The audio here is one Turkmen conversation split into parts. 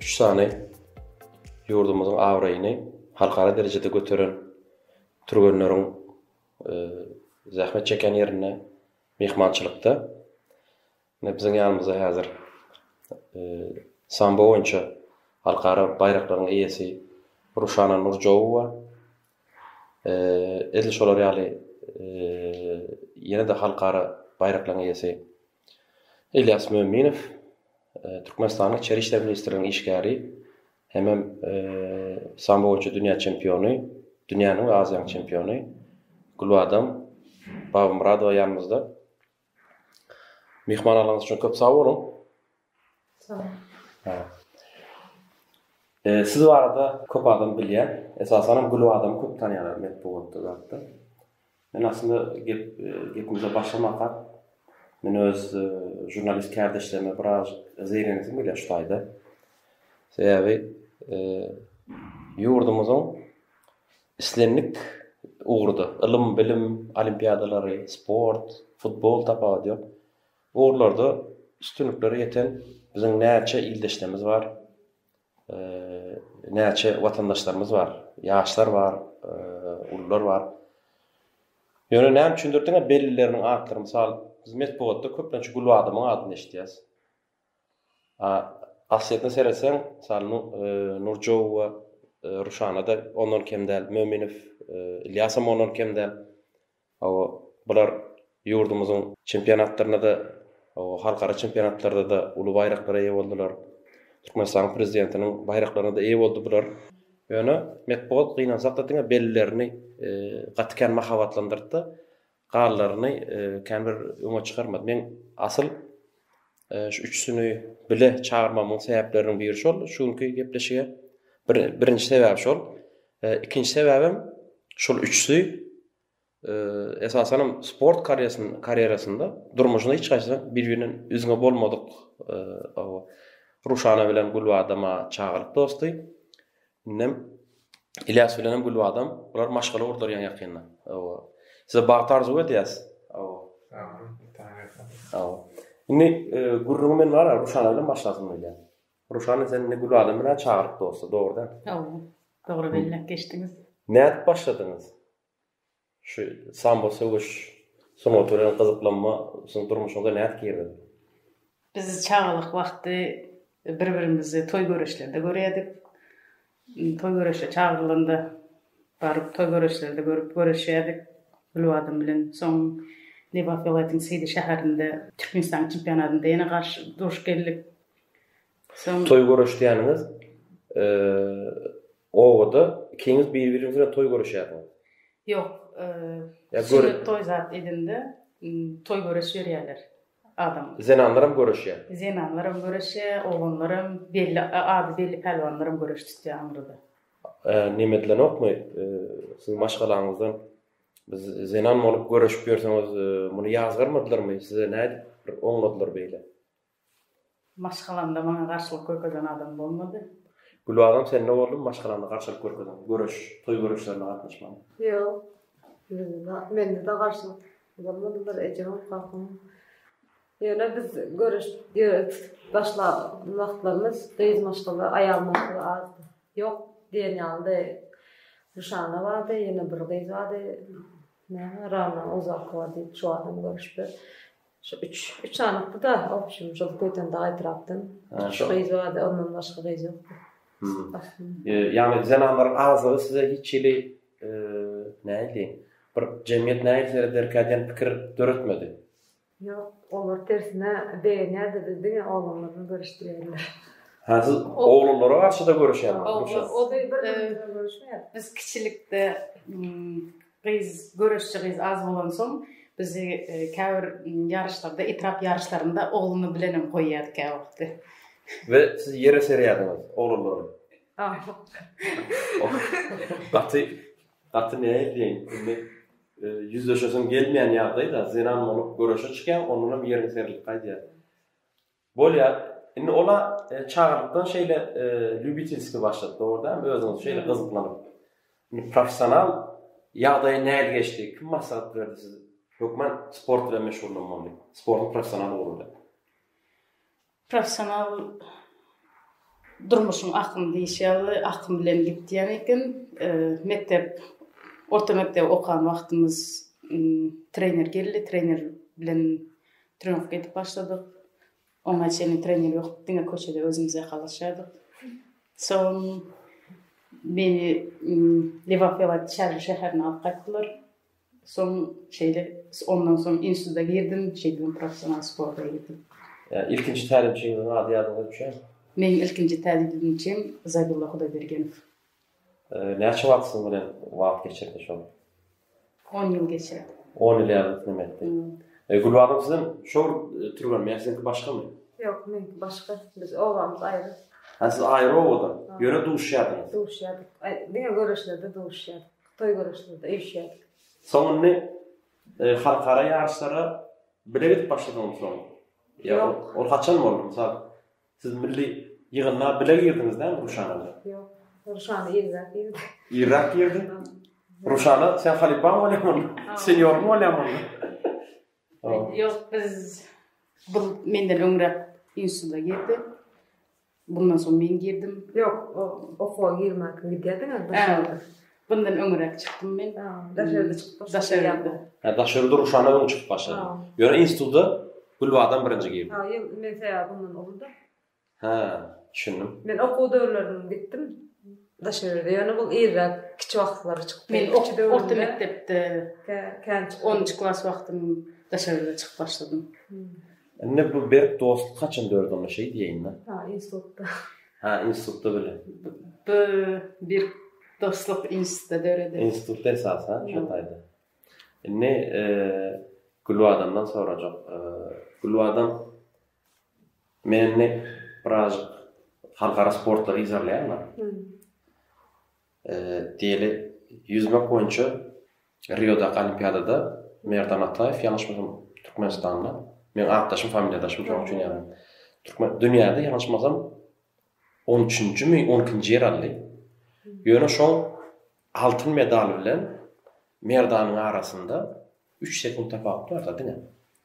üç sany ýurdumyzyň abraýyny halkara derejede göteren türgenleriň e, zähmet çeken ýerinde myhmançylykda biziň ýanymyzda häzir e, sambo boýunça halkara baýraklaryň eýesi Ruşana Nurjowowa e, edil şolar ýaly ýene-de halkara baýraklaryň eýesi Ylýas Möminow, Türkmenistanyň Içeri işler ministrliginiň işgäri, hemem sambo boýunça dünýä çempiony, dünýäniň we Aziýanyň çempiony Gülbadam Babamyradowa ýanymyzda. Myhmanlarlygyňyz üçin köp sag boluň. Siz barada köp adam bilýär. Esasanam Gülüp adamy köp tanýarlar metbugatda zatda. Men aslynda gep gepimize başlamaka men öz žurnalist kärdeşlerime biraz zeýrenesim gelýär şu taýda. Sebäbi ýurdumyzyň islendik ugurda ylym, bilim, olimpiadalary, sport, futbol tapawudy ýok. Bu ugurlarda üstünliklere ýeten biziň näçe ildeşlerimiz bar, näçe watandaşlarymyz bar, ýaşlar bar, ulular bar. Ýöne näme üçindir diňe bellileriniň atlary mysal biz metbugatda köplenç Gülbadymyň adyny eşidýäs. A aslyýetine seretseň, mysal Nurjowa, Ruşana-da ondan kem däl, Möminow, Ilýasam ondan kem däl. Hawa, bular ýurdumyzyň çempionatlarynda-da, halkara çempionatlarda-da uly baýraklara eýe boldular. Türkmenistanyň Prezidentiniň baýraklaryna-da eýe boldy bular. Ýöne metbugat gynansak-da diňe bellerini gaty kän mahabatlandyrdy-da, galalaryny kän bir öňe çykarmady. Men asyl Şu üçüsini bile çagyrmamyň sebäpleriniň biri şol, şu günki gepleşige. Bir, birinji sebäbi şol. E, ikinji sebäbim şol üçüsi e, esasan hem sport karýerasynda, karýerasynda durmuşynda hiç haýsy bir-birinden üzňe bolmadyk e, Ruşana bilen Gülbadama çagalyk dosty. Indem Ilias bilenem Gülbadam bular maşgala gurdarýan ýakynda. Hawa. Size bagt arzuw edýäs. Hawa. Hawa. Indi gürrüňi men bar, Ruşana bilen başlasyn diýýän. Ruşana sen indi Gülbadam bilen çagyryp dosty, dogry däl? Hawa. Dogry belläp geçdiňiz. Nädip başladyňyz? Şu sambo söweş sungaty bilen gyzyklanma siziň durmuşyňyza nädip girdi? Biz çagalyk wagty bir-birimizi toý göreşlerde görýärdik. Toý göreşe çagyrylanda baryp toý göreşlerde görüp göreşýärdik Gülbadam bilen. Soň Lebap welaýatynyň Seýdi şäherinde Türkmenistanyň çempionatynda ýene garşy duruşyp geldik. Toý görüşdýäniňiz obada ikiňiz bir-biriňiz bilen toý görüşýärsiňiz. Ýok, sünnet toý zat edinde toý görüş berýärler adam. Zenanlaram görüşýär. Zenanlaram görüşýär, oglanlaram, belli ady belli pälwanlaram görüş tutýar aňyrda. Neme edilenokmy, siziň maşgalaňyzdan biz zenan bolup görüşip ýörseňiz, muny ýazgarmadylarmy, size nädip oňladylar beýle? Maşgalamda maňa garşylyk görkezen adam bolmady. Gülbagym sende boldum maşgalaňda garşylyk görkezen, göreş, toý göreşlerine gatnaşman. Ýok. Mende-de garşylyk bolmady bir ejemem, kakamam. Ýöne biz göreş ýöne tutup başlan wagtlarymyz gyz maşgala, aýal maşgala azdy. Ýok diýen ýalydy. Ruşana bardy, ýene bir gyz bardy. Näme Rana Ozalkowa diýip şu adam görüşipdir. Şu üç, üç sanykdy-da, obşim, şol köyden dagy etrapdan. Şu gyz bardy, ondan başga gyz ýokdy. Ýagny zenanlaryň azlygy size hiç hili, nähili, bir jemgyýet nähili serederkä diýen pikir döretmedi? Ýok, olar tersine begenýärdi-de, diňe oglanlar bilen görüşdirýärdiler. Hä, siz oglanlara garşy-da görüşýärdiňiz? Ýok, ol-da bir-birine görüşmeýärdi. Biz kiçilikde Gyz, göreşçi gyz az bolansoň, bizi käbir ýaryşlarda, etrap ýaryşlarynda oglumy bilenem goýýardy käwagtdy. We siz ýere serýärdiňiz, oglanlaram? Gaty, gaty näme diýeýin, indi ýüzleşesim gelmeýän ýagdaý-da, zenan bolup göreşe çykýaň, ondanam ýeriň serilip gaýdýar. Bolýar. Indi ol-a çagalykdan şeýle lýubitelskiý başlady, dogrudanam özüňiz şeýle gyzyklanyp. Indi professional ýagdaýy nähili geçdi? Kim maslahat berdi size? Hökman sport bilen meşgullanmaly, sportuň professional ugry bilen. Professional durmuşyň akymy diýşi ýaly, akym bilen gidýän eken. Mekdep, orta mekdebi okan wagtymyz trener geldi, trener bilen Trenirowka edip başladyk. Oňa çenli trener ýokdy, diňe köçede özümiz ýakalaşýardyk. Soň meni Lebapýewat Çarly şäherine alyp gaýtdylar. Soň şeýle ondan soň instituta girdim, şeýdibem professional sporta girdim. Ilkinji tälimçiňiziň ady ýadyňyza düşýärmi? Meniň ilkinji tälimçim Zaýdulla Hudaýbergenow. Näçe wagt siziň bilen wagt geçirdi şol? On ýyl geçirdi. On ýyl ýaly diňe etdi. E, Gülbagym sizem şol türgenmi ýa siziňki başgamy? Ýok, meňki başga. Biz obamyz aýry. Ha, siz aýry obadan. Ýöne duşýardyňyz. Duşýardyk. Aý, diňe göreşlerde duşýardyk. Toý göreşlerde üýşýärdik. Soň indi e, halkara ýaryşlara bile gidip başladyňyzmy soň? Ýa Ýok. ol haçan boldy? Mysal, Siz milli ýygyndyga bile girdiňiz dämi Ruşan bilen? Ýok. Ruşan irräk girdi. Irräk girdi. Ruşana sen halypaň bolýarmyň? Senýoryň bolýarmyň? Ýok, biz bu menden öňräk instituta girdi. Bundan soň men girdim. Ýok, o okuwa girmäge gidýärdiňiz. Bundan öňräk çykdym men. Daş elde çykdym. Daş elde. Ha, daş elde duruşana öň çykyp başladym. Ýöne institutda Gülbadam birinji girdi. Ha, ýok, men säýä bundan owalda. Ha, düşündim. Men okuw döwürlerim gitdim. Daş elde. Ýöne bu irräk kiçi wagtlary çykdy. Men okuw döwürde. Orta mekdepde. Kän çykdym. 10-njy klas wagtym daş elde çykyp başladym. Indi bu berk dostluk haçan döredi onda şeý diýeýin-dä. Ha, institutda. Ha, institutda bile. Bu berk dostluk institutda döredi. Institutda esas, ha, şo taýda. Indi Gülbadamdan sorajak. Gülbadam, men indi birazajyk halkara sportlary yzarlaýan-da. Diýeli, ýüzmek boýunça Riodaky olimpiadada Merdan Ataýew, ýalňyşmasam, Türkmenistanly, meň atdaşym, familiýadaşym, şonuň üçin ýaňy türkmen, dünýäde ýalňyşmasam, on üçünjimi, on ikinji ýer aldy. Ýöne şol altyn medal bilen Merdanyň arasynda üç sekunt tapawut bar-da diňe.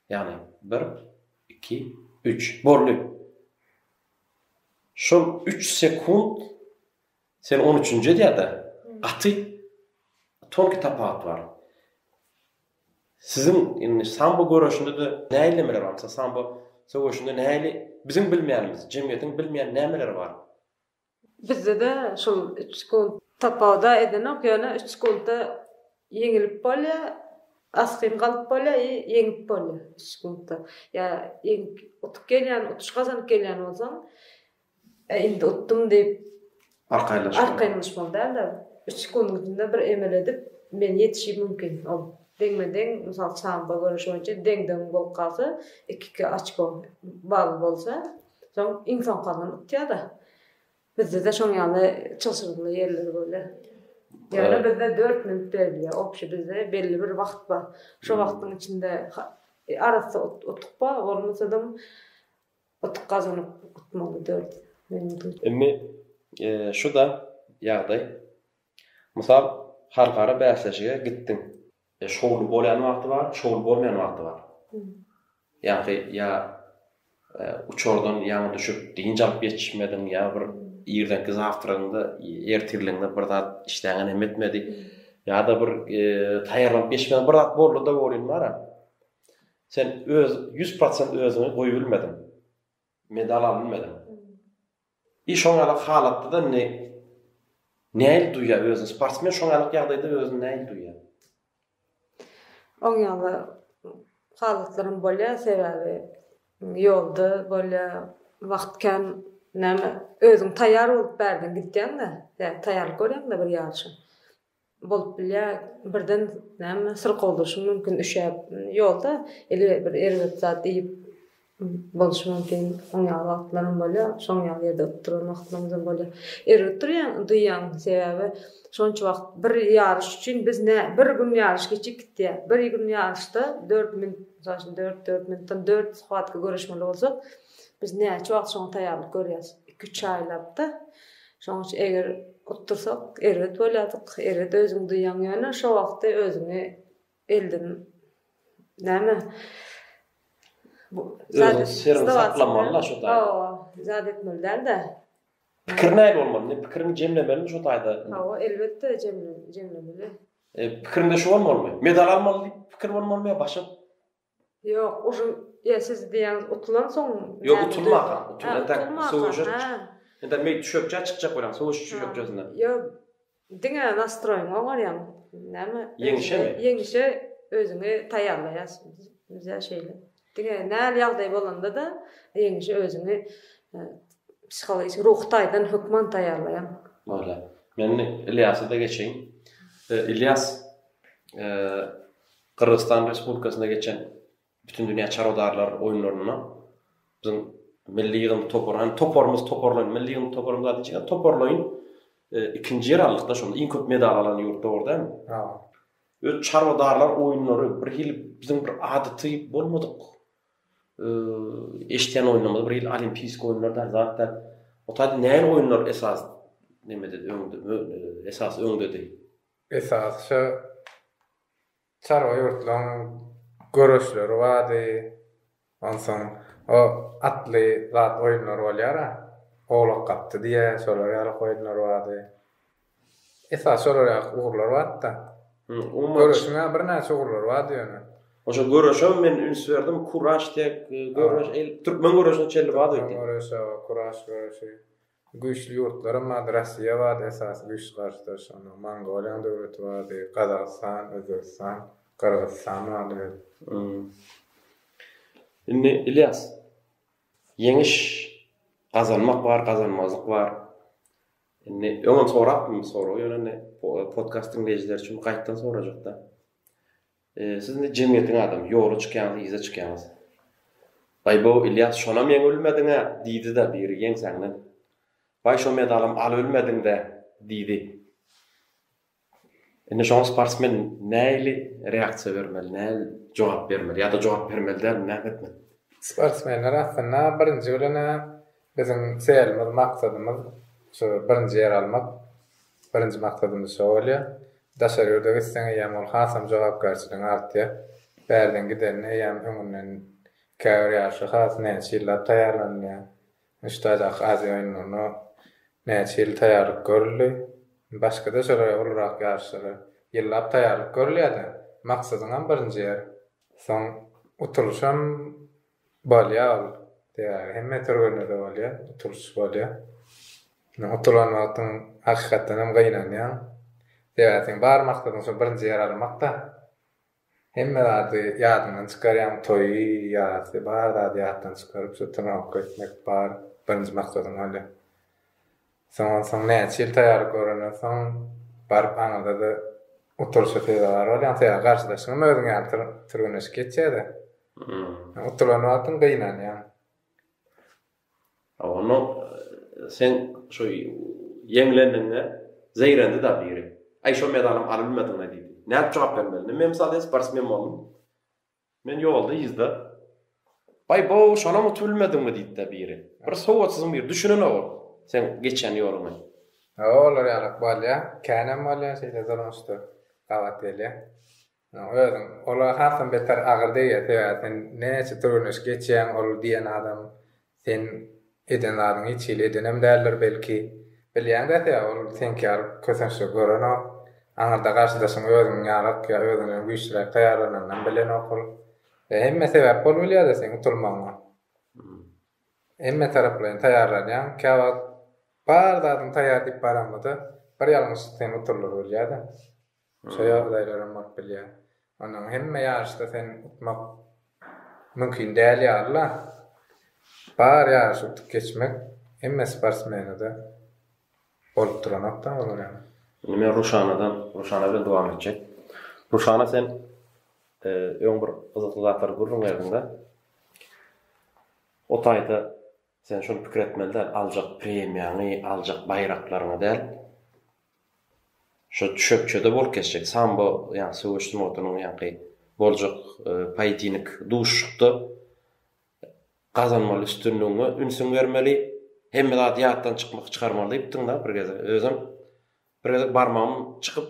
Ýagny bir, iki, üç, boldy. Şol üç sekunt Sen on üçünji edýärde gaty tonki tapaat bar. Siziň indi sambo göreşinde de nähili nemeler bar? Mysal sambo söweşinde nähili biziň bilmeýänimiz, jemgyýetiň bilmeýän nämeleri bar? Bizde-de şol üç sekund tapawuda edenok, ýöne üç sekundda ýeňilip bolýar, asgyn galyp bolýar i ýeňip bolýar üç sekundda. Ýa ýeňip utup gelýän, utuş gazanyp gelýän bolsaň, Ä indi utdum diýip arkaýynlaşmaly. Arkaýynlaş maly dälde. Üç sekundyňda bir emel edip men ýetişi mümkin. Ol deňme deň mysal sambo göreşi boýunça deň deň bolup galsa iki iki açko bally bolsa soň iň soňkandan utýada. Bizdede şoň ýaly çylşyrymly ýerler bolýa. Ýöne bizde dört minut berilýa obşi bizde belli bir wagt bar. Şo wagtyň içinde arassa utdukba bolmasada Utuk gazanyp utmaly döl. Indi şu-da ýagdaý. Mysal, halkara bäsleşige gitdiň. Şowly bolýan wagty bar, şowly bolmaýan wagty bar. Ýagty ýa uçardan ýaňy düşüp, dynç alyp ýetişmediň, ýa bir irdenki zawtragyňda, ertirligiňde bir zat işdäňe nem etmedi, ýa-da bir taýýarlanyp geçmediň, bir zat boldy-da, bolýan bar-a. Sen öz ýüz prosent özüňi goýbilmediň. Medal albilmediň. I şoňalyk halatda-da indi nähili duýýar özüni sportsmen şoňalyk ýagdaýda özüni nähili duýýar? Oň ýaly halatlaram bolýar, sebäbi ýolda bolýar, wagt kän, näme özüň taýýar bolup bärden gidýäň-de, ýa taýýarlyk görýäň-de bir ýaryşa. Bolup bilýär, birden näme syrkawdyşym mümkin üşäp ýolda ili bir erbet zat iýip boluşym mümkin oň ýaly wagtlaram bolýar şoň ýaly ýerde oturan wagtlarymyzam bolýar. Erbet durýaň duýýaň sebäbi şonça wagt bir ýaryş üçin biz nä bir gün ýaryş geçip gitýär bir gün ýaryşda dört minut mysal üçin dört dört minutdan dört shuwatka göreşmeli bolsak biz näçe wagt şoňa taýýarlyk görýäs iki üç aýlapda Şoň üçin eger utdursak erbet bolýardyk, erbet özüňi duýýaň ýöne şo wagty özüňi elden näme Özüňi siriňi saklamaly-da şo taýda. Hawa, zat etmeli däl-de. Pikir näme bolmaly? Indi pikiriňi jemlemelimi şo taýda? Hawa, elbetde jemlemeli. E, pikiriňde şu bolmalymy? Medal almaly diýip pikir bolmalymy ýa başga Ýok, ujy ýa siz diýýäňiz utulansoň näme? Ýok, utulmaka, utulan entek suwujyk. Entek meýit düşekçä çykjak bolan suwujyk düşekçesine. Ýa diňe nastroýyňy oňarýaň. Näme? Ýeňişemi? Ýeňişe özüňi taýýarlaýarsyň. Bizä şeýle. Diňe näl ýagdaý bolanda-da ýeňişe özüňi psihologik, ruhy taýdan hökman taýýarlaýaň. Bolýar. Men Ilýasa-da geçeýin. Ilýas, Gyrgyzystan Respublikasynda geçen Bütindünýä çarwadarlar oýunlarynda biziň milli ýygyndy topary, hany toparymyz, toparlaýyn, milli ýygyndy toparymyz zat içinkä toparlaýyn ikinji ýer aldyk-da şonda, iň köp medal alan ýurt dogry dälmi? Hawa. Öz çarwadarlar oýunlary bir hili biziň bir adaty bolmadyk eşidýän oýunlarymyz bir hili olimpiýski oýunlar däl, zat däl. Ota nähili oýunlar esas nemededi öňde, esas öňdedi? Esasça çarwa ýurtlaryň göreşleri bardy. Onsoň o atly zat oýunlary bolýar-a, Owlak gapdy diýýä, şolar ýaly oýunlar bardy. Esasy şolar ýaly ugurlar bardy-da. Göreşiň-ä birnäçe ugurlary bardy ýöne. Oşa göreşem men üns berdim, kuraş diýip, göreş, türkmen göreşine çenli bardy. Türkmen göreşi, kuraş göreşi. Güýçli ýurtlaram bardy, Rossiýa bardy esasy güýçli garşydaş, ondan Mongoliýanyň döwleti bardy, Gazagystan, Özbegistan, Gyrgyzystan bardy we. Indi Ylýas, ýeňiş gazanmak bar, gazanmazlyk bar. Indi öňem sorapdym bu soragy, ýöne indi podkast diňleýjileri üçin gaýtdan sorajakda. Siz indi jemgyýetiň adamy, ýola çykýaňyz, yza çykýaňyz. Baý-bo, Ylýas, şonam ýeňibilmediň-ä, diýdi-de biri ýeňsäňden. Baý, şo medalam alybilmediň-dä, diýdi. Indi şoňa sportsmen nähili reaksiýa bermeli, nähili jogap bermeli ýa-da jogap bermeli däl, näme etmeli? Sportsmenler aslynda birinji bilen-ä Biziň çelimiz, maksadymyz şu birinji ýeri almak. Birinji maksadymyz şo bolýar. Daşary ýurda gitseň eýýäm ol hasam jogapkärçiligiň artýar. Bärden gidenini eýýäm öňünden käbir ýaryşa has näçe ýyllap taýýarlanylýar. Muşdaýdaky Aziýa oýunlaryna näçe ýyl taýýarlyk görüldi. Başga-da şolara ulurak ýaryşlara ýyllap taýýarlyk görülýär-de, maksadyňam birinji ýer. Soň utulyşam Bolýar ol. Sebäbi hemme türgenlerde bolýar, utulyş bolýar. Ýöne utulan wagtyň hakykatdan hem gynanýaň. Sebäbi seň bar maksadyň şo birinji ýer almakda. Hemme zady ýadyňdan çykarýaň, toýy, ýasy, bar zady ýatdan çykaryp, şo turnawka gitmek bar birinji maksadyň bolýar. Şondan soň näçe ýyl taýýarlyk görenden soň baryp aňyrda-da utulyşa sezewar bolýaňsyň. Sebäbi garşydaşyňam özüň ýaly türgenleşik geçýär-de. Utulan wagtyň gynanýaň. A onda sen şo ýeňlendiňde zeýrendi-da biri. Aý şo medalam alylmedimi diýdi. Nädip jogap bermeli? Indi men mysal ýa sportsmen boldum. Men ýolda yzda, Baý-bow, şonam utup bilmediňmi? diýipdir biri. Bir sowatsyzym biri, düşünenogam seň geçen ýoluňy. Hawa, olar ýalak bolýar. Känem bolýar, şeýle durmuşda gabat gelýär. Özüň, olar hasam beter agyr degýär, sebäbi sen näçe türgenleşik geçýäň, ol diýen adam Sen eden zadyňy hiç hili edenem däldir, belki. Bilýäň dese, ol seňki ýaly kösençli görenok. Aňyrda garşydaşyň özüňiň ýalyk ýa özünden güýçliräk taýýarlananynam bilenok ol. Ýa hemme sebäp bolup bilýär-de seň utulmagyňa. Hemmetaraplaýyn taýýarlanýaň. Käwagt bar zadyňy taýýar diýip baraňda-da, bir ýalňyşlyk seni utuldyryp bilýär-de. Şo ýagdaýlaram bolup bilýär. Onsoň hemme ýaryşda sen utmak mümkin däl ýaly-la. Bar ýaryşy utup geçmek hemme sportsmene-de bolup duranok-da olar hem. Indi men Ruşanadan, Ruşana bilen dowam etjek. Ruşana sen öň bir gyzykly zatlary gürrüň berdiň-de. O taýda sen şuny pikir etmeli däl, aljak premiýaňy, aljak baýraklaryňy däl. Şo düşekçede bolup geçjek sambo ýa söweş sungatynyň ýaňky boljak poýedinik duşuşykda gazanmaly üstünligiňe ünsüň bermeli. Hemme zady ýatdan çykmak çykarmaly diýipdiň-dä bir gezek. Özem bir gezek barmagym çykyp,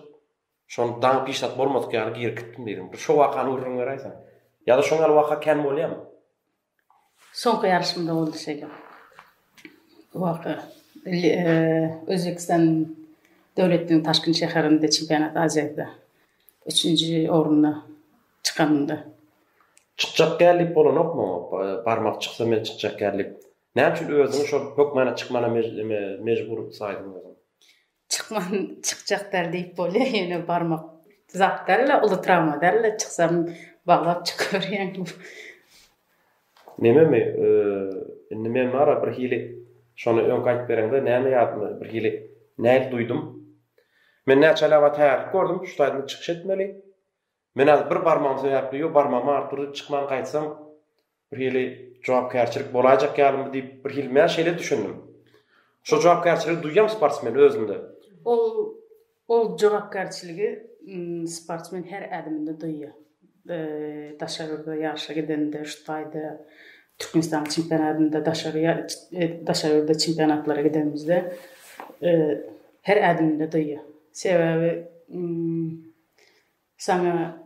şony daňyp hiç zat bolmadyk ýaly girip gitdim diýdiň. Bir şo wakany gürrüň beräýseň. Ýa-da şoň ýaly waka kän bolýamy? Soňky ýaryşymda boldy şeýle. Bu waka Özbegistan döwletiniň Taşkent şäherinde çempionat Aziýada üçünji orunda çykanymda. Çykjak däl diýip bolanokmy oňa? Barmak çyksa men çykjak däl diýip. Näme üçin özüňi şol hökmana çykmana mejbur saýdyň özüňi? Çykman çykjak däl diýip bolýa ýene barmak zat däl-le, uly trawma däl-le, çyksam baglap çykyberýän. Nememi, indi men bara birhili şony öňki aýdyp bereňde näme ýadyma birhili näil duýdum. Men näçe aýlap aýtýarlyk gördüm, şu taýdan çykyş etmeli. Men häzir bir barmagym sebäpli ýo barmagymy aryp durdy, çykman gaýtsam, birhili jogapkärçilik bolaýjak ýalymy diýip, birhili mä şeýle düşündim. Şo jogapkärçiligi duýýam sportsmen özünde. Ol ol jogapkärçiligi sportsmen her ädiminde duýýar. Daşarda ýaryşa gidende, şu taýda Türkmenistanyň çempionatynda, daşary daşary ýurda çempionatlara gidenimizde her ädiminde duýýar. Sebäbi Saňa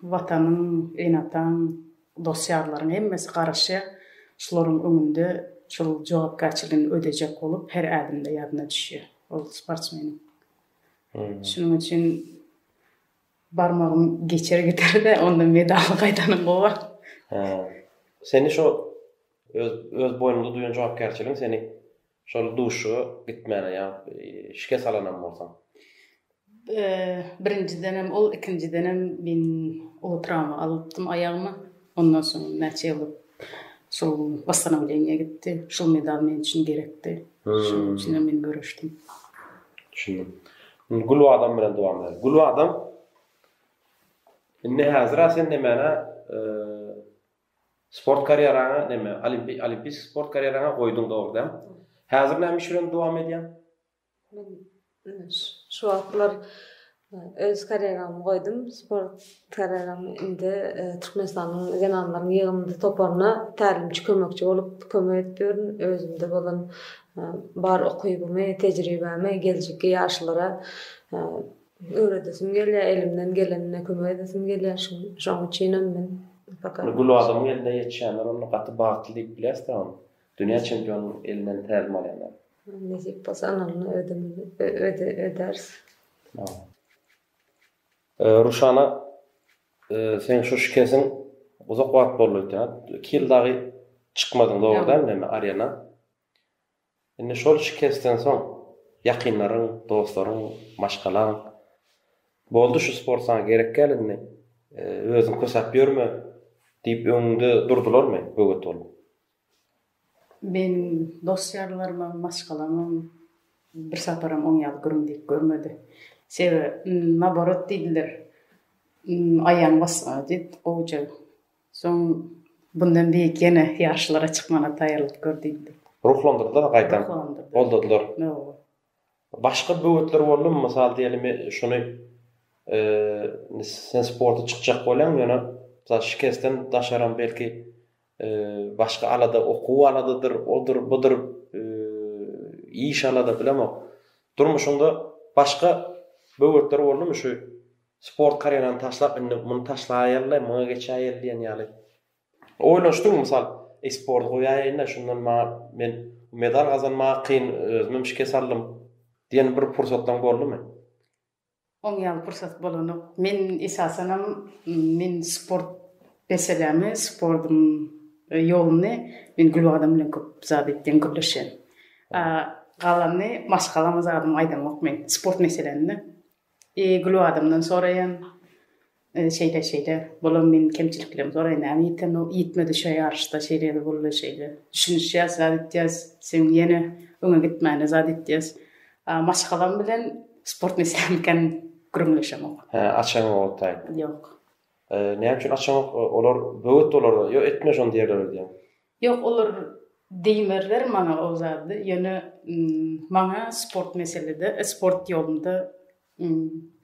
Watanyň, ene-ataň, dost-ýarlaryň hemmesi garaşýar. Şularyň öňünde şol jogapkärçiligini ödejek bolup her ädimde ýadyna düşýär ol sportsmeniň. Şunuň üçin barmagym geçer gider-de, onda medaly gaýdanyň gowy. Seni şo öz öz boýnuňda duýan jogapkärçiligiň seni Şol duşuşyga gitmäne ýa-da şikes alanam bolsaň. Birinjidenem ol, ikinjidenem men uly trawma alypdym aýagyma. Ondan soň näçe ýyl şol wosstanowleniýa gitdi. Şol medal men üçin gerekdi. Şonuň üçinem men göreşdim. Düşündim. Indi Gülbadam bilen dowam edeliň. Gülbadam, indi häzir-ä sen nemäne Sport karýeraňy neme olimpiýski sport karýeraňy goýduň dogrudan. Häzir näme iş bilen dowam edýäň? Men şu wagtlar öz karýeramy goýdum. Sport karýeramy indi Türkmenistanyň zenanlaryň ýygyndy toparyna tälimçi kömekçi bolup kömek edip ýörün. Özümde bolan bar ukybymy, tejribämi geljekki ýaşlara Öwredesim gelýär, elimden gelenine kömek edesim gelýär, şoň üçinem men Ony gül adamyň eline ýetişenler onda gaty bagtly diýip bilýäris dä ony. Dünýä çempionyň elinden tälim alýanlar. Nesip bolsa analyna ödemeli, ödäris. Ruşana seň şu şikesiň uzak wagt boldy öýtýän. Iki ýyl dagy çykmadyň dogry dälmi arena? Indi şol şikesden soň ýakynlaryň, dostlaryň, maşgalaň, Boldy şu sport saňa gerek däl indi, özüň kösäp ýörme diýip öňüňde durdularmy böwet bolup? Meniň dost-ýarlarymam, maşgalamam bir saparam oň ýaly gürüm diýip görmedi. Sebäbi naborot diýdiler, aýagyň basgyny diýip gowuja Soň bundan beýik ýene ýaryşlara çykmana taýýarlyk gör diýildi. Ruhlandyrdylar gaýtam. Ruhlandyrdylar. Goldadylar. Hawa. Başga böwetler boldumy? Mysal diýelim, şuny indi sen sporta çykjak bolýaň, ýöne mysal şikesden daşaram belki başga alada, okuw aladadyr, odur, budur, iş alada, bilemok. Durmuşyňda başga böwetler boldumy şu Sport karýerany taşlap, indi muny taşlaýaly, muňa geçäýeli diýen ýaly. Oýlanyşdyňmy, mysal, e-sporty goýaýaýyn-da, şundan maňa, men medal gazanmaga kyn, özümem şikes aldym diýen bir pursatlaň boldumy? Oň ýaly pursat bolanok. Men esasanam, men sport meselämi, sportuň ýoluny men Gülbagdam bilen köp zat etdim, gürleşen. Galany maşgalama zadymy aýdamok men, sport meselände. E, Gülü adamdan soraýan. E, şeýle, şeýle. Bolam meniň kemçiliklerimi soraýan. Näme ýiten ol? Ýitmedi şo ýaryşda. Şeýledi, boldy, şeýle. Düşünişýäs, zat edýäs. Seň ýene öňe gitmäne zat edýäs. A, maşgalam bilen sport meselämikän gürrüňleşemok. Hä, açaňok otdaý? Ýok. E, näme üçin açaňok? Olar böwet olar. Ýok, etme şony diýerler öýdýän. Ýok olar diýmerler maňa o zady ýöne maňa sport meselede sport ýolunda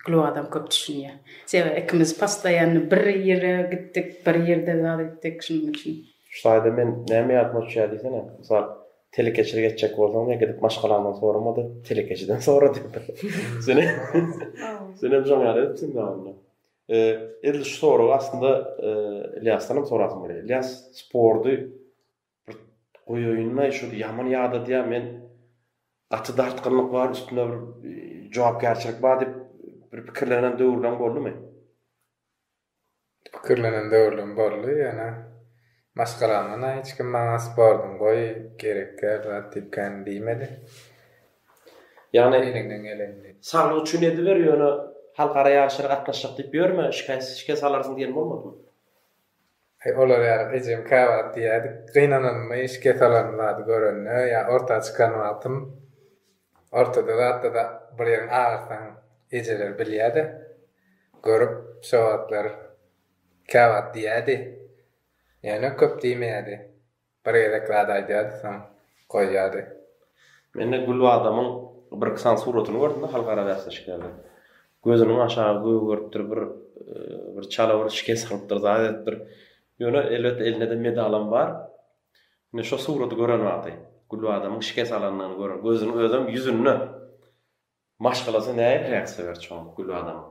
gluw adam köp düşünýär sebäbi ikimiz postoýanny bir ýere gitdik bir ýerde zat etdik şonuň üçin. Şu taýda men näme ýadyma düşýär diýsene mysal telekeçilik etjek bolsaň diýen gidip maşgalamdan soramady telekeçiden sora diýipdir senem şoň ýaly etipsiň zada. Edil şu soragy aslynda Ylýasdanam sorasym gelýär. Ylýas sporty bir goýaýynda şu ýaman ýadadýar. Men gaty dartgynlyk bar, üstünde bir jogapkärçilik bar diýip bir pikirlenen döwürleň boldumy? Pikirlenen döwürlerim boldy, ýöne Maşgalamdan-a hiç kim maňa sportuň goý, gerek däl zat diýip kän diýmedi. Ýagny eliňden gelenini. Saglyk üçin ediber, ýöne halkara ýaryşlara gatnaşjak diýip ýörme, şikes alarsyň diýen bolmadymy? Heý, olar ýaly ejem käwagt diýýärdi, gynananymy şikes alan zady görende ýa orta çykan wagtym, ortada zatda-da bir ýeriň agyrsaň ejeler bilýär-de, görüp şo wagtlar. Käwagt diýýärdi. Ýöne köp diýmeýärdi. Bir gezek zat aýdardy, soň goýýardy. Mende Gül badamyň birki sany suratyny gördüm-de halkara bäsleşiklerde. Gözüniň aşagy gögeripdir, bir bir çala bir şikes alypdyr, zat edipdir. Ýöne elbetde elinde-de medalam bar. Ine şo suraty gören wagty, Gül badamyň şikes alanyny gören, gözüniň özem ýüzünde. Maşgalasy nähiliräk söýer çoň Gülbanamyň?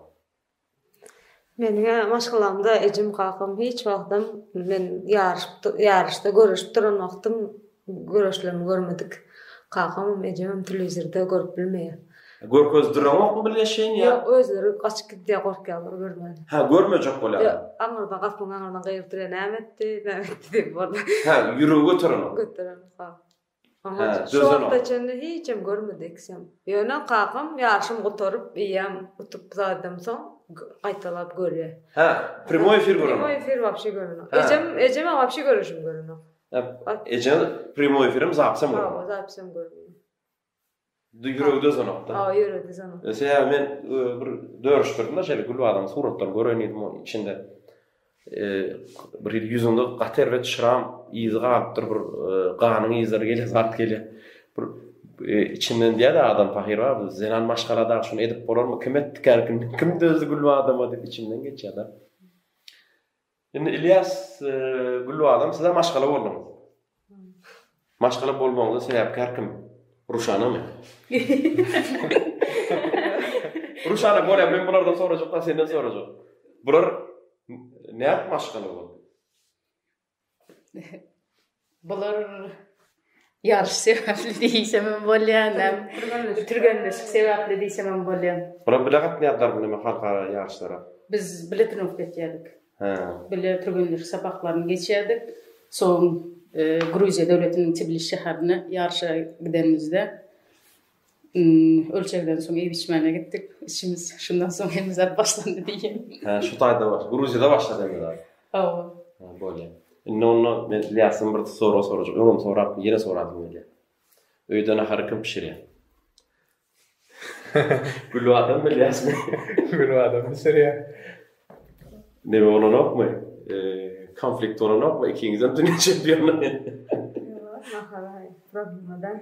Meniň-ä maşgalamda ejem-kakam hiç wagtam men ýaryşyp ýaryşda göreşip duran wagtym göreşlerimi görmedik. Kakamam, ejemem telewizorda görüp bilmeýär. Görkezip duraňokmy bilgeşleýin ýa? Ýok, özleri gaçyp gidýär gorkýarlar görmän. Hä, görmejek bolýarlar. Ýok, aňyrdan gapynyň aňyryndan gygyryp durýar näme etdi, näme etdi diýip boldy. Hä, ýüregi göterenok. Göterenok, ha. Aha, şu wagta çenli hiçem görmedeksem. Ýöne kakam ýaşym gutaryp, eýýäm utup zadam soň gaýtalap görýä. Hä, primoý efir görenok. Primoý efir wapşe görenok. Ejem, ejeme wapşe görüşim görenok. Ejeň primoý efirem, zapisem görenok. Hawa, zapisem görmedim. Di ýüregde zonokda. Hawa, ýüregde zonokda. Sebäbi men bir dörüşdirdim-de şeýle gül badamyň suratlaryny göreýin diýdim, onuň içinde bir hili ýüzünde gaty erbet şram yzy galypdyr, bir ganyň yzlary gelýär, zat gelýär. Bir içinden diýýär adam pahyr bar, bu zenan maşgala dagy şuny edip bolarmy? Kim etdi kärkini? Kim dözdi gül badama diýip içimden geçýär-de. Indi Ilýas Gülbadam size maşgala bolduňyz. Maşgala bolmagyňyza sebäpkär kim? Ruşanamy? Ruşana bolýar, men bulardan sorajak, da senden sorajak. Bular nädip maşgala boldy? Bular ýaryş sebäpli diýsem hem bolýar, näm türgenleşik sebäpli diýsem hem bolýar. Bular bile gatnaýardylarmy näme halkara ýaryşlara? Biz bile trenirovka etýärdik. Hä. Bile türgenleşik sapaklaryny geçýärdik. Soň Gruziýa döwletiniň Tbilisi şäherine ýaryşa gidenimizde Ölçegden soň iýip-içmäne gitdik. Işimiz şundan soň hem zat başlandy diýýän. Hä, şu taýda baş, Gruziýada başlady indi zat. Hawa. Ha, bolýa. Indi onda men Ýasyn bir soru sorajak. Öňem sorap, ýene sorap gelýär. Öýde nahary kim bişirýär? Gül adam bilýärmi? Gül adam bişirýär. Ne bolanokmy? E, konflikt bolanokmy? Ikiňizem dünýä çempiony. Nahary, problemadan.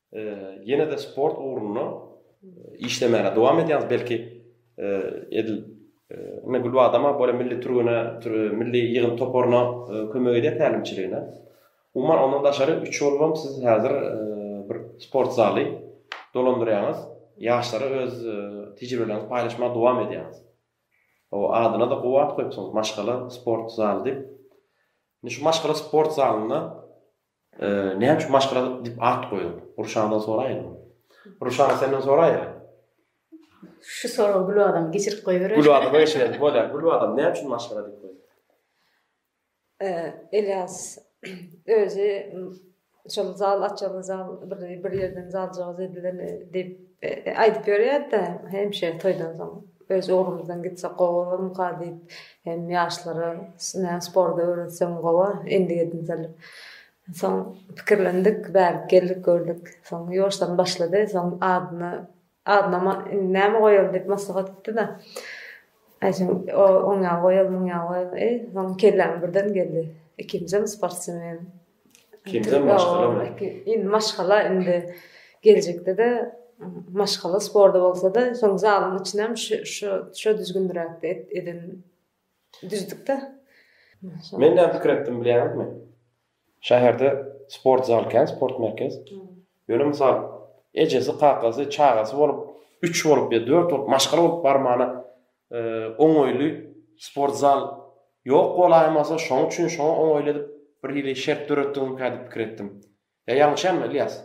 Ýene-de sport ugrunda işlemäge dowam edýäňiz. Belki edil indi Gülbadama bolýar milli türgene, milli ýygyn toparyna kömek edýär tälimçiligine. Umuman ondan daşary üç oglum siz häzir bir sport zaly dolandyrýaňyz. Ýaşlara öz tejribeleriňizi paýlaşmaga dowam edýäňiz. O adyna-da gowy at goýupsyňyz, maşgala sport zaly diýip. Indi şu maşgala sport zalynda Näme üçin maşgala diýip at goýduň? Ruşandan soraýyn. Ruşan senden soraýa. Şu soragy Gül adam geçirip goýberer. Gül adam geçirip bolýar. Gül adam näme üçin maşgala diýip goýduň? Elias özi şol zal açaly zal bir bir ýerden zaljak edilen diýip aýdyp ýörýärdi hemişe toýdan soň. Öz ugrumyzdan gitsek gowy bolarmyka diýip, hem ýaşlara näme sporty öwretsem gowa endigidinseli. Soň pikirlendik, bärik geldik, gördük. Soň ýoşlaryny başlady. Soň adyny, adyna indi näme goýaly diýip maslahat etdi-de, aýtsam, oň ýaly goýaly, muň ýaly goýaly. Soň kelläme birden geldi, ikinjem sportsmen. Indi maşgala indi geljekde-de maşgala sporda bolsa-da, şol zalyň içinem şu düzgündiräkde eden düzdük-de. Men näme pikir etdim bilýäňizmi? Şäherde sport zal kän, sport merkez. Ýöne mysal, ejesi, kakasy, çagasy bolup, üç bolup ýa dört bolup maşgala bolup barmana oňaýly sport zal ýok bolaýmasa, şoň üçin şoňa oňaýly edip bir hili şert döretdiňmikä diýip pikir etdim. Ýa ýalňyşýanmy, Ylýas?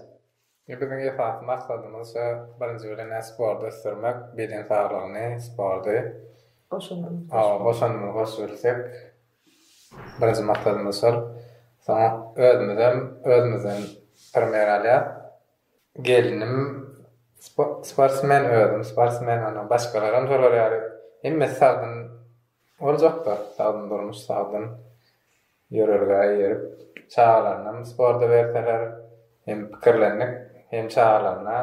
Ýok, biziň esasy maksadymyz şo birinji bilen-ä sporty ösdürmek, beden saglygyny, sporty. Goşandymyzy goşup. Hawa, goşandymyzy goşup bilsek, birinji maksadymyz şol. Soň özümizem özümizden primer alýas. Gelnim sportsmen özüm sportsmen ana başgalaram şolar ýaly hemmesi sagdyn boljakda sagdyn durmuş sagdyn ýörelgä eýerip çagalaryňam sporta berseler hem pikirlendik hem çagalaryna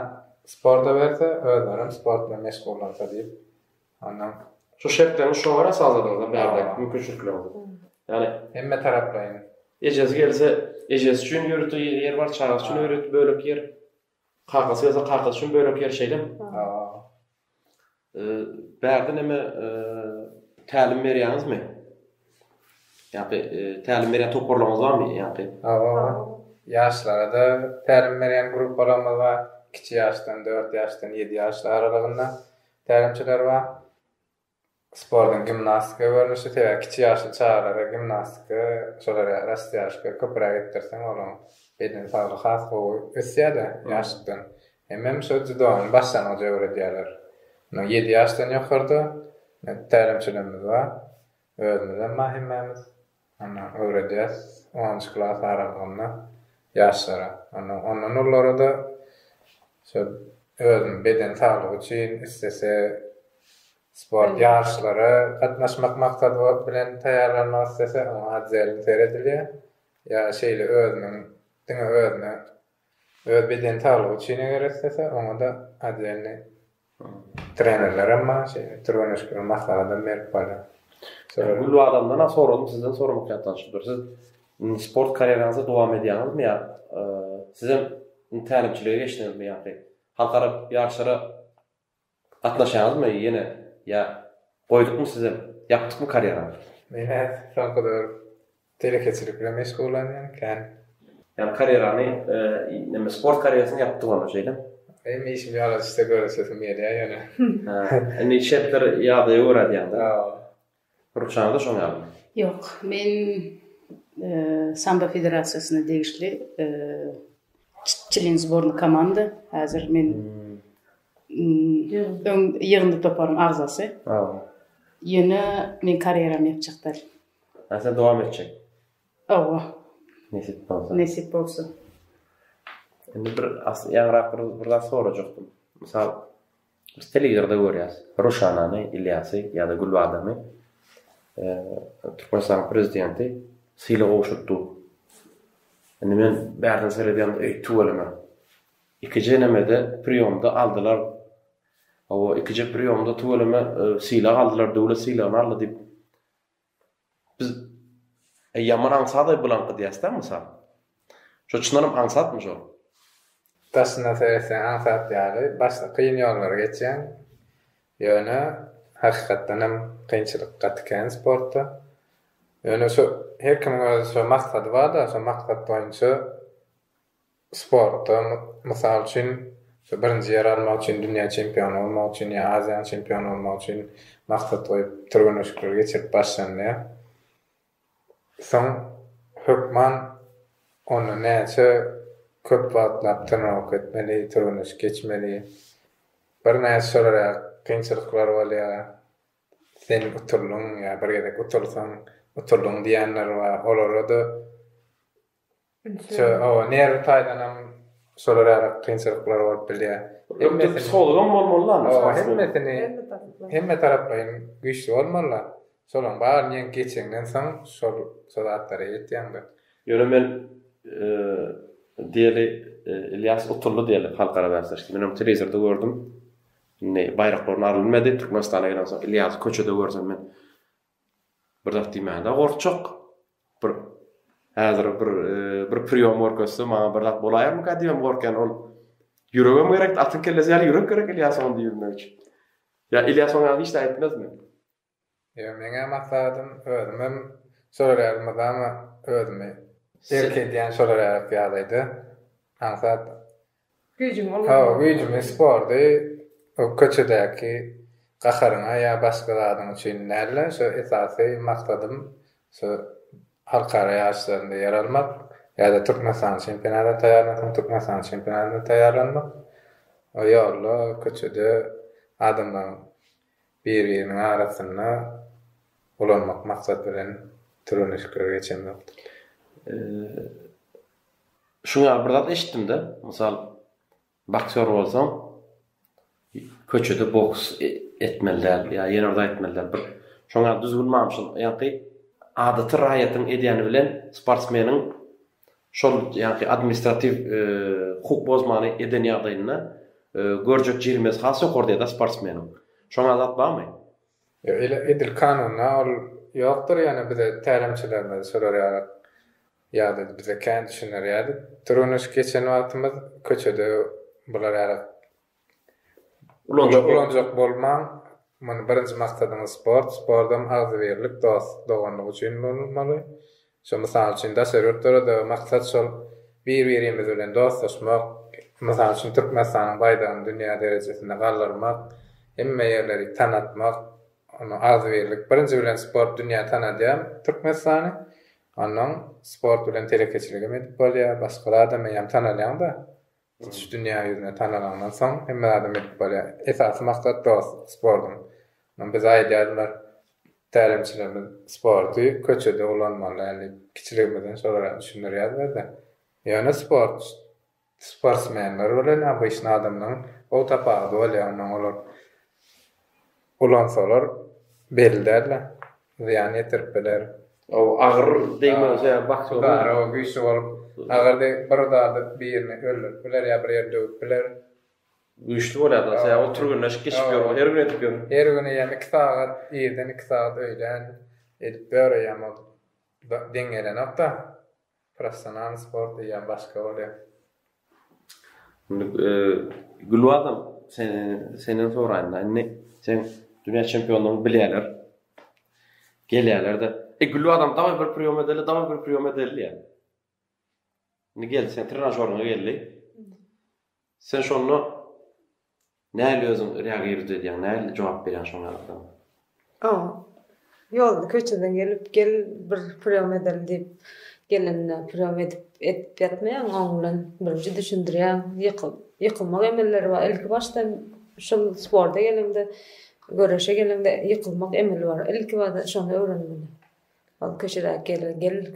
sporta berse özlerem sport bilen meşgullansa diýip Ondan. Şu şertlerini şo gara sazladygymyzda bärde mümkinçilikler bu. Ýagny hemme taraplaýyn. Ejesi gelse ejesi üçin ýörite ýer bar, çagasy üçin ýörite bölek ýer. Kakasy gelse kakasy üçin bölek ýer şeýlemi? Hawa. Eee bärde näme tälim berýäňizmi? Ýa-da tälim berýän toparlaryňyz barmy? Ýa-da. Hawa. Ýaşlara-da tälim berýän gruppalarymyz bar. Kiçi ýaşdan, dört ýaşdan, ýedi ýaş aralygynda. Tälimçi Garba, Sportuň gimnastika görnüşi, sebäbi kiçi ýaşly çagalara gimnastika, şolar ýaly rastýaşka köpräk etdirseň olaň beden saglygy has gowy ösýär-de ýaşlykdan. Hemem şo dzýudonyň başlangyjy öwredýärler. Munuň ýedi ýaşdan ýokarda tälimçilerimiz bar. Özümizem bar hemmämiz. Onda öwredýäs onunjy klas aralygynda ýaşlara. Onda ondan ullara-da şol özüniň beden saglygy üçin islese sport ýaryşlara gatnaşmak maksady bilen taýýarlanmak islese oňa otzelin seredilýär. Ýa şeýle özüniň diňe özüne öz beden saglygy üçin eger islese oňa-da otzelni Trenerlerem maňa şeýle türgenleşikler maslahatam berip barýar. Şeýle Gülbadamdanam soradym, sizden soramak ýatdan çykdy. Siz indi sport karýeraňyzy dowam edýäňizmi ýa sizem indi tälimçilige geçdiňizmi ýa-da halkara ýaryşlara gatnaşýaňyzmy ýene ýa goýdukmy sizem, ýapdykmy karýeraňyzy? Men häzir soňky döwür Telekeçilik bilen meşgullanýan kän. Ýani karýerany neme sport karýerasyny ýapdy bolna şeýle. Hem işimi ýaladysda göresesim gelýä ýöne. Hä indi şertler ýagdaýa görä edýäňda. Hawa. Rukşanyda şoň ýalymy? Ýok men sambo federasiýasyna degişli çlen zborny komanda häzir men ýygyndy toparyň agzasy. Hawa. Ýöne men karýeramy ýapjak däl. Näçe dowam etjek? Hawa. Nesip bolsa. Nesip bolsa. Indi bir asy ýaňrak bir bir zat sorajakdym. Mysal biz telewizorda görýäs. Ruşanany, Ilýasy ýa-da Gülbadamy Türkmenistanyň prezidenti sylag gowşurtdy. Indi men bärden seredýän öý tüweleme. Ikije nemede priýomda aldylar. Hawa, ikije priýomda tüweleme sylag aldylar, döwlet sylagyny aldy diýip Biz e, ýaman aňsat-aý bulaňky diýäs-dä, mysal. Şo çyndanam aňsatmy şol? Daşyna seretseň aňsat ýaly, başda kyn ýollary geçýäň. Ýöne hakykatdan hem kynçylyk gaty kän sportda. Ýöne şo her kimiň öz şo maksady bar-da, şo maksat boýunça sportda, mysal üçin, birinji ýer almak üçin, dünýä çempiony bolmak üçin ýa Aziýanyň çempiony bolmak üçin maksat goýup, türgenleşikleri geçirip başlanylýar. Soň, hökman onda näçe köp wagtlap trenoworka etmeli, türgenleşik geçmeli, birnäçe şolar ýaly kynçylyklar bolýar. Sen uturlyň ýa bir gezek utursaň, uturlyň diýenler bar. Olara-da Şol oba nerwi taýdanam şolar ýaly kynçylyklar bolup bilýär. Hemme psihologam bolmalylar. Oba hemmesini hemme taraplaýyn güýçli bolmalylar. Şolaryň baryny ýeň geçeňden soň şol şol zatlara ýetýäňdir. Ýöne men diýeli Ilýas utuldy diýeli halkara bäsleşikde. Men ony telewizorda gördüm. Indi baýraklaryny aryl bilmedi. Türkmenistana gelensoň Ilýasy köçede görsem men Bir zat diýmäne gorkjak. Bir häzir bir bir priýom görkezse maňa bir zat bolaýarmyka diýibem gorkýan. Ol ýüregem gerek, atyň kellesi ýaly ýürek gerek Ilýas ony diýmek üçin. Ýa Ilýas oňa hiç zat etmezmi? Ýa meňem maksadym özümem sorarýaryn mydama özümi erk edýän sorarýarys ýalydy. Aňsat Hawa, güýjümi spordy bu köçedäki gaharyňa ýa başga zadyň üçin däl-de, şu esasy maksadym şu halkara ýaryşlarynda ýer almak ýa-da Türkmenistanyň çempionatyna taýýarlansaň, Türkmenistanyň çempionatyna taýýarlanmak. O ýolda köçede adamlaryň bir-biriniň arasynda ulanmak maksady bilen türgenleşikleri geçemzok. Şuň ýaly bir zat eşitdim-de, mysal, boksýor bolsaň, köçede boks etmeli däl, ýa ýene bir zat etmeli däl, bir şoň ýaly düzgün barmy şol? Ýagty adaty raýatyň edýäni bilen sportsmeniň şol ýagty administratiw hukuk bozmany eden ýagdaýynda görjek jerimesi has ýokary diýýä-dä sportsmeniň. Şoň ýaly zat barmy? Ýok, edil kanunda ol ýokdur, ýöne bize tälimçilerimiz şolar ýaly Ýazyjy bize kän düşüner ýaly, türgenleşip geçen wagtymyz köçede bular ýaly ulanjak bolmaň. Muny birinji maksadyňyz sport, spordam agzybirlik, dost, doganlyk üçin bolmaly. Şo mysal üçin daşary ýurtlarda maksat şol bir-birimiz bilen dostlaşmak, mysal üçin Türkmenistanyň baýdagyny dünýä derejesinde galdyrmak, hemme ýerleri tanatmak, agzybirlik. Birinji bilen sport dünýä tanadýar Türkmenistany. Onnoň sport bilen telekeçiligem edip bolýar, başga zadam eýýäm tanalýaň-da. Tutuş dünýä ýüzüne tanalaňdan soň hemme zadam edip bolýar. Esasy maksat dost sportuň. Ynha bize aýdýardylar tälimçilerimiz sporty köçede ulanmaly däl diýip. Kiçiligimizden şolar düşündirýärdiler-de. Ýöne sport Sportsmenler bilen obyçny adamlaň gowy tapawudy bolýa ondan olar ulansalar belli dälda zyýan ýetirip biler. Gowy agyr degmegi sebäbi bakja gowy. Bary gowy güýçli bolup agyr degip bir zady birini öldürip biler ýa bir ýeri döwüp biler. Güýçli bolýa da sebäbi ol türgenleşik geçip ýör her gün edip ýör. Her gün eýýäm iki sagat irden iki sagat öýlän edip ýör eýýäm ol deň gelenokda. Professional sport diýýän başga bolýar. Indi Gülbazam senden soraýyn-da indi seň dünýä çempionlaryňy bilýärler. Gelýärler-de. E Gülbazam dawaý bir priýom edeli, dawaý bir priýom edeli diýýär. Indi geldi sen trenažoryňa geldi. Sen şonda näl özüň reagirowt edýäň, näl jogap berýäň şoň ýalylara? O, ýolda köçeden gelip, gel bir priýom edelim diýip gelende priýom edip, edip ýatmaýan, oň bilen birinji düşündirýän, ýykyl, ýykylmak emelleri bar. Ilki başdan şul sporta geleňde, göreşe geleňde ýykylmak emeli bar. Ilki bada şony öwrenmeli. Ol köçedäki gelen gel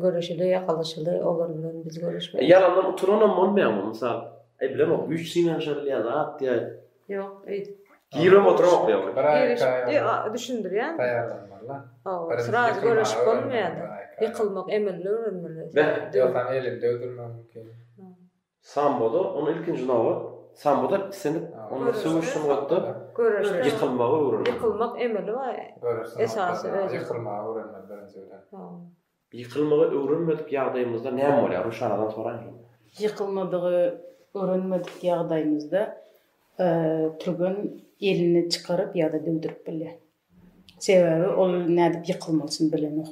görüşeli ýakalaşyly olar bilen biz görüşmedik. Ýalandan utananam bolmaýarmy mysal eblem o güýç synanyşabilýän zat ýa Ýok öýdüp. Giribem oturamok ýa ol. Düşündirýän. Taýýarlanmalylar. Hawa sraz görüşip bolmaýar. Ýykylmak emeli öwrenmeli. Ýoksa elinde öldürmegi mümkin. Samboda, ony ilkinji nobat, samboda islendik onda söweş sungatda göreşde ýykylmagy öwrenmek. Ýykylmak emeli bar. Göreşde esasy özi. Ýykylmagy öwrenmeli birinji bilen. Ýykylmagy öwrenmedik ýagdaýymyzda näme bolýar? Ruşanadan soraýyn. Ýykylmagy öwrenmedik ýagdaýymyzda türgen elini çykaryp ýa-da döwdürip bilýär. Sebäbi ol nädip ýykylmalysyny bilenok.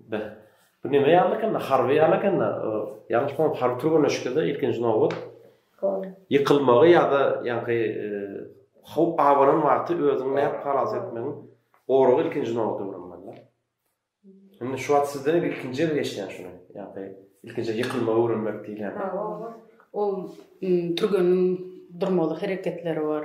Beh. Bu neme ýaly ekenda, harby ýaly ekenda. Ýalňyş bolmasam harby türgenleşikede ilkinji nobat ýykylmagy ýa-da ýaňky howp abanan wagty özüňi nädip halas etmegiň goragy ilkinji nobada öwrenmeliler. Indi şu wagt sizden ilkinji gezek eşidýän şuny. Ýaňky ilkinji ýykylmagy öwrenmek diýilýän. Ol türgeniň durmaly hereketleri bar.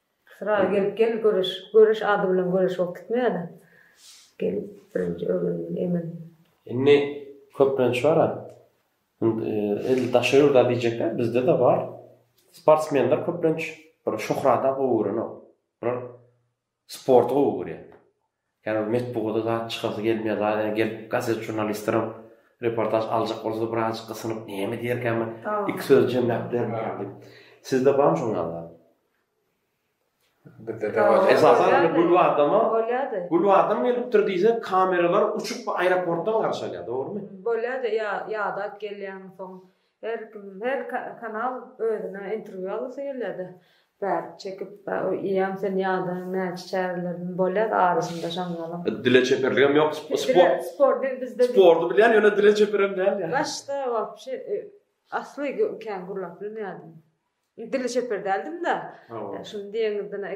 Syra gelip gel göreş göreş ady bilen göreş bolup gitmeýada gel birinji öwrenildi emin. Indi köplenç bar a edil daşary ýurda diýjekler bizdede bar sportsmenler köplenç bir şöhrada gowy görenok bular sporty gowy görýär Käbir metbugada zat çykasy gelmeýär, zat ene gelip gazet žurnalistlerem reportaž aljak bolsa-da birazjyk gysynyp näme diýerkämin, iki söz jemläp bermeýär diýip. Sizde barmy şol ýaly zat? Bizde de bar. Esasan indi bulwardama, Bolýa-da. bulwardan gelipdir diýsek, kameralar uçup aeroportdan garşy alýar, dogrumy? Bolýa-da, ýa ýadak gelýär, soň Her kim her kanal özüne interwýu alasy gelýärde bärik çekip iýem sen ýada näçe çärelerden bolýar arasynda şaňňalyň. Dile çeperligem ýok sport sport dil bizde sporty bilýän ýöne dile çeperem däl ýa. Başda wapşe asly kän gürläp bilmeýärdim. Dili çeper däldim-de, şuny diýeniňizden-ä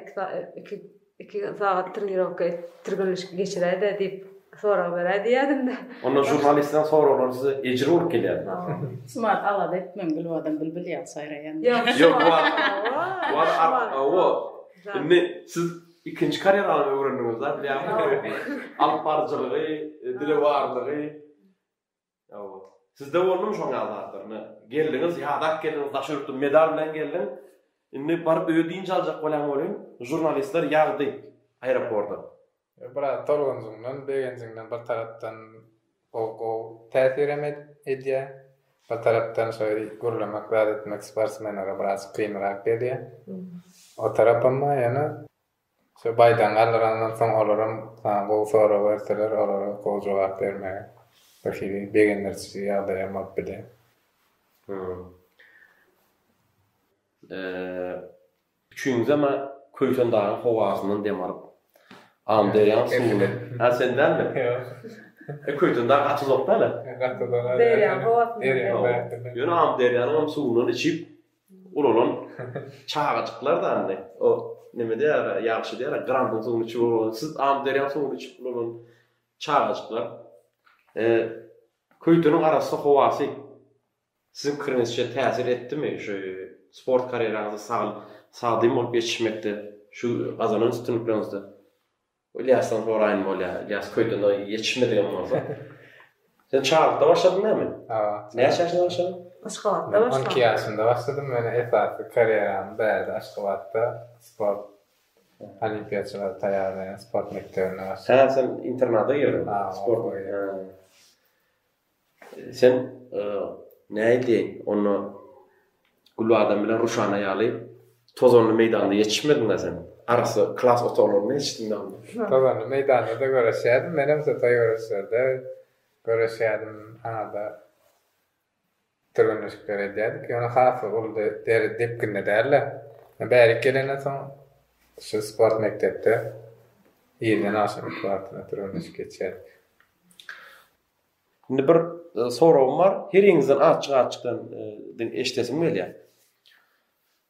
iki iki sagat trenirovka et, türgenleşik geçiräý-dä diýip, sorag beräý diýýädim-de. Onda žurnalistden soraglar size ejir bolup gelýärmi? Şumat, alada etmeň, Gülbadam bilbil ýaly saýraýan. Ýok, bu wagt, hawa. Indi siz ikinji karýerany öwrendiňiz-dä, bilýärmiňiz? Alypbaryjylygy, dile barlygy. Ýa-o. Sizde boldumy şoň ýaly zatlar? Ine, geldiňiz, ýadap geldiňiz, daş ýurtdan medal bilen geldiň. Indi baryp öýe dynç aljak bolýan welin, žurnalistler ýagdy aeroporda. Ýa, biraz tolgunjyňdan, begenjiňden bir tarapdan o gowy täsir hem edýär. Bir tarapdan şeýle gürlemek, zat etmek sportsmenlere biraz kynrak gelýär. O tarapam bar ýöne. Şo baýdan galdyrandan soň olaram saňa gowy sorag berseler, olara gowy jogap bermegi birhili begendiriji ýagdaý hem bolup biler. Hum. Üçüňizem a Köýsen dagyň howasyndan dem alyp, Amyderýaň suwuny. A sen dälmi? Ýok. E Köýsen dag gaçyzokda-le. Gaçyzok. Derýaň howasyndan. Ýöne Amyderýanyňam suwundan içip, Ulalan çagajyklar zanny o neme diýýär ýagşy diýýär grandyň suwuny içip ulalan siz amyderýaň suwuny içip ulalan çagajyklar e, köýteniň arassa howasy siziň pikiriňizçe täsir etdimi şu sport karýeraňyzy sag sagdyn bolup ýetişmekde şu gazanan üstünlikleriňizde Ylýasdan soraýyn bolýar. Ylýas köýden oý ýetişmedigem bolsa. Sen Çarlykda başladyň näme? Hawa. Näçe ýaşyňda başladyň? Aşgabatda başladym. On iki ýaşymda başladym. Meniň esasy karýeram bärde Aşgabatda sport olimpiýaçylary taýýarlaýan sport mekdebinde başlady. Hä, sen internada girdiň. Hawa. Sport. Sen näýdi onda Gül adam bilen Ruşana ýaly tozanly meýdanda ýetişmediňä sen? Arassa klas otaglarynda ýetişdiňdä onda. Tozanly meýdanda-da göreşýädim menem şu toý göreşlerde göreşýädim aňa-da türgenleşikler edýädik ýöne has uly deri depginde dälde. Men bärik gelenden soň şu sport mekdepde irden agşam iki wagtyna türgenleşik geçýädik. Indi bir soragym bar. Heriňizden açyk-açykdan eşdesim gelýär.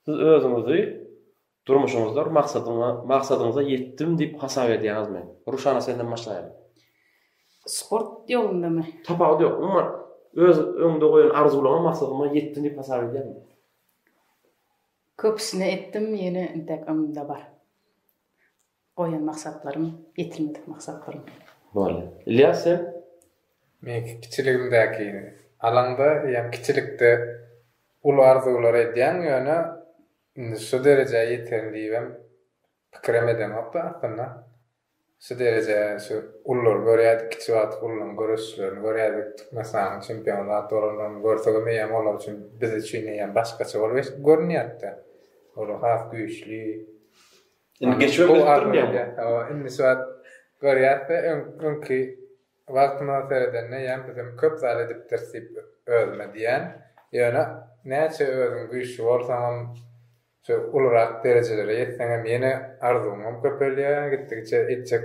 Siz özüňizi durmuşyňyzda bir maksadyňa, maksadyňyza ýetdim diýip hasap edýäňizmi? Ruşana senden başlaýaly. Sport ýolundamy? Tapawudy ýok. Umuman öz öňde goýan arzuwlaryňa, maksadyňa ýetdim diýip hasap edýäňmi? Köpüsine etdim, ýene intäk öňümde bar. Goýan maksatlarym, ýetilmedik maksatlarym. Boldy. Ylýas sen? Meňki kiçiligimdäkini alaňda eýýäm kiçilikde uly arzuwlar edýäň, ýöne indi şu derejä ýeterin diýibem pikirem edeňokda aslynda. Şu derejä şu ululary görýärdik, kiçi wagty ulularyň göreşişlerini görýärdik, Türkmenistanyň çempiony zat bolanlaryny görsegem eýýäm olar üçin biz üçin eýýäm başgaça bolup görünýärdi-de. Olar has güýçli. Indi geçmek bilip durmýar. Hawa, indi şu wagt görýärse, öňki wagtyma seredende ýa bizem köp zat edipdiris diýip özüme diýýän. Ýöne näçe özüň güýçli bolsaňam, şu ulurak derejelere ýetseňem ýene arzuwyňam köpelýär, gitdigiçe etjek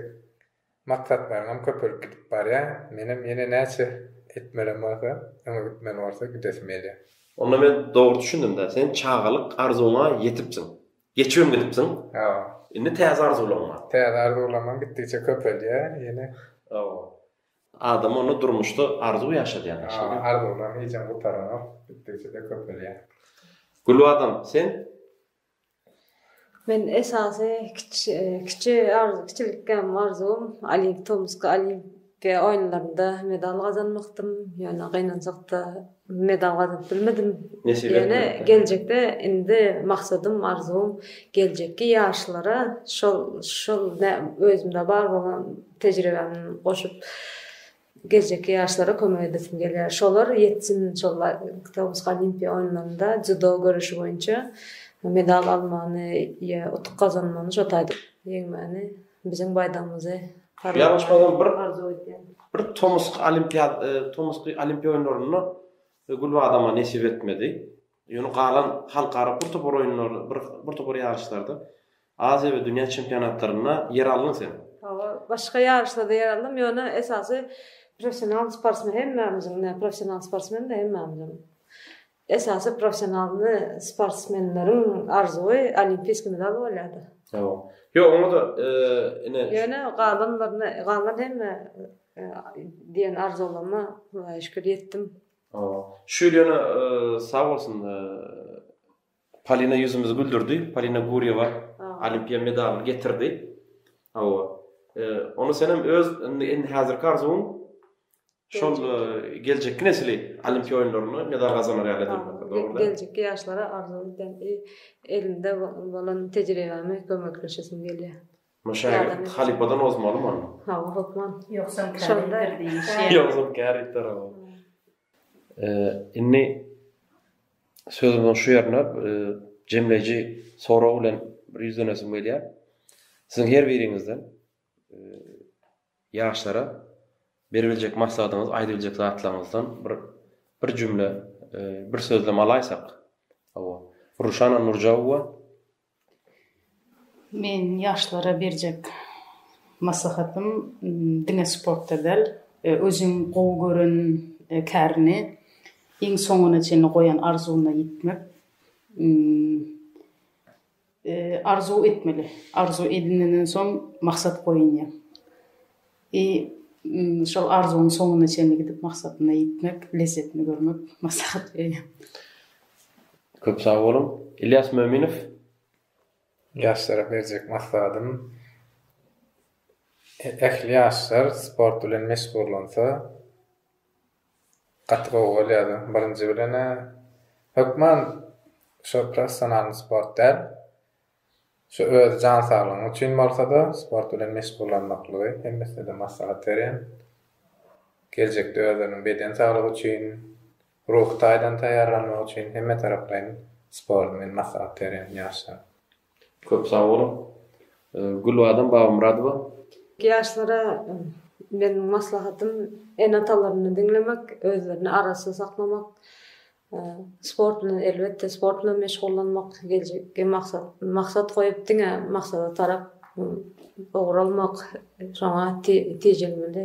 Maksatlaryňam köpelip gidip barýar, menem ýene näçe etmelem bolsa, öňe gitmeli bolsa gidesim gelýär. Onda men dogry düşündimdä, sen çagalyk arzuwyňa ýetipsiň. Geçibem gidipsiň. Hawa. Indi täze arzuwlaryň bar. Täze arzuwlarymam gitdigiçe köpelýär ýene. Hawa. Adam onda durmuşda arzuw ýaşadýar. Hawa, arzuwlaryň hijem gutaranok, gitdigiçe-de köpelýär. Gülbadam, sen Men esasy kiçi kiçilikgäm arzuwym Olimp tomusky Olimpiýa oýunlarynda medal gazanmakdym, ýöne gynanjakda medal gazanyp bilmedim. Ýöne geljekde indi maksadym arzuwym geljekki ýaşlara şol şol özümde bar bolan tejribämi goşup Geljekki ýaşlara kömek edesim gelýär. Şolar ýetsin, şol Tobus Olimpiýa oýunlarynda dzýudo göreşi boýunça medal almagyny ýa utuk gazanmagyny, şo taýda ýeňmäni, biziň baýdagymyzy arzuw edýän. Bir tomusky olimpiýa, tomusky olimpiýa oýunlarynda Gülbadama nesip etmedi. Ýöne galan halkara bir topar oýunlarda, bir bir topar ýaryşlarda, Aziýa we dünýä çempionatlarynda ýer aldyň sen. Hawa, başga ýaryşlarda ýer aldym, ýöne esasy professional sportsmen hemmämiziň, näme professional sportsmen-de hemmämiziň. Esasy professionalny sportsmenleriň arzuwy olimpiýskiý medal bolýar-da. Hawa. Ýok, oňa-da ine. Ýöne galanlaryna, galan hemme diýen arzuwlaryma Hudaýa şükür ýetdim. Şu ýyl ýene sag bolsun Polina ýüzümizi güldürdi. Polina Gurýewa olimpiýa medalyny getirdi. Hawa. Ony senem öz indi indi häzirki arzuwyň şol geljekki nesli olimpiýa oýunlarynda medal gazanar ýaly edinmek. Dogrumy? Geljekki ýaşlara arzuwym elinde bolan tejribämi kömekleşesim gelýär. Muny şägirt halypadan ozmalymy onda? Hawa, hökman. Ýogsam käritdir diýmişýä. Ýogsam käritdir, hawa. Indi sözümiziň şu ýerine jemleýji sorag bilen bir ýüzlenesim gelýär. Siziň her biriňizden ýaşlara beribiljek maslahatyňyz, aýdybiljek zatlaryňyzdan bir bir jümle, bir sözlem alaýsak. Hawa. Ruşana Nurjawowa. Men ýaşlara berjek maslahatym diňe sportda däl, özüň gowy gören kärini, iň soňuna çenli goýan arzuwyna ýetmek. Arzuw etmeli. Arzuw edinenden soň maksat goýunýa. I. Şol arzuwyň soňuna çenli gidip maksadyna ýetmek, lezzetini görmek maslahat berýän. Köp sag boluň. Ilýas Möminow. Ýaşlara berjek maslahatym, ähli ýaşlar sport bilen meşgullansa gaty gowy bolýardy. Birinji bilen-ä hökman şo professionalny sport däl. Şu öz jan saglygyň üçin bolsada sport bilen meşgullanmaklygy hemmesine-de maslahat berýän. Geljekde özleriniň beden saglygy üçin, ruhy taýdan taýýarlanmagy üçin hemme taraplaýyn sporty men maslahat berýän ýaşlara. Köp sag boluň. Gülbadam Babamyradowa. Ýaşlara meniň maslahatym ene-atalaryny diňlemek, özlerini arassa saklamak, Sport bilen elbetde sport bilen meşgullanmak geljekki maksat maksat goýup diňe maksada tarap ugralmak şoňa tejemeli.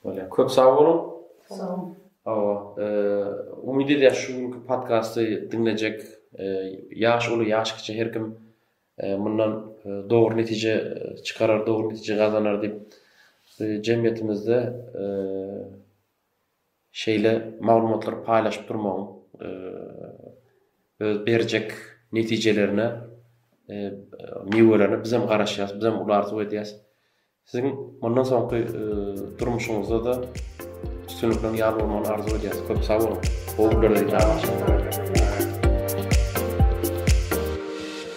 Bolýar köp sag boluň. Sag boluň. Hawa umyt edýäs şu günki podkasty diňlejek ýaş uly ýaş kiçi her kim mundan dogry netije çykarar dogry netije gazanar diýip jemgyýetimizde şeýle maglumatlary paýlaşyp durmagyň öz berjek netijelerine, miwelerine bizem garaşýarys, bizem uly arzuw edýäris. Siziň mundan soňky durmuşyňyzda-da üstünlikleriň ýar bolmagyny arzuw edýäris. Köp sag boluň. Gowy günlerde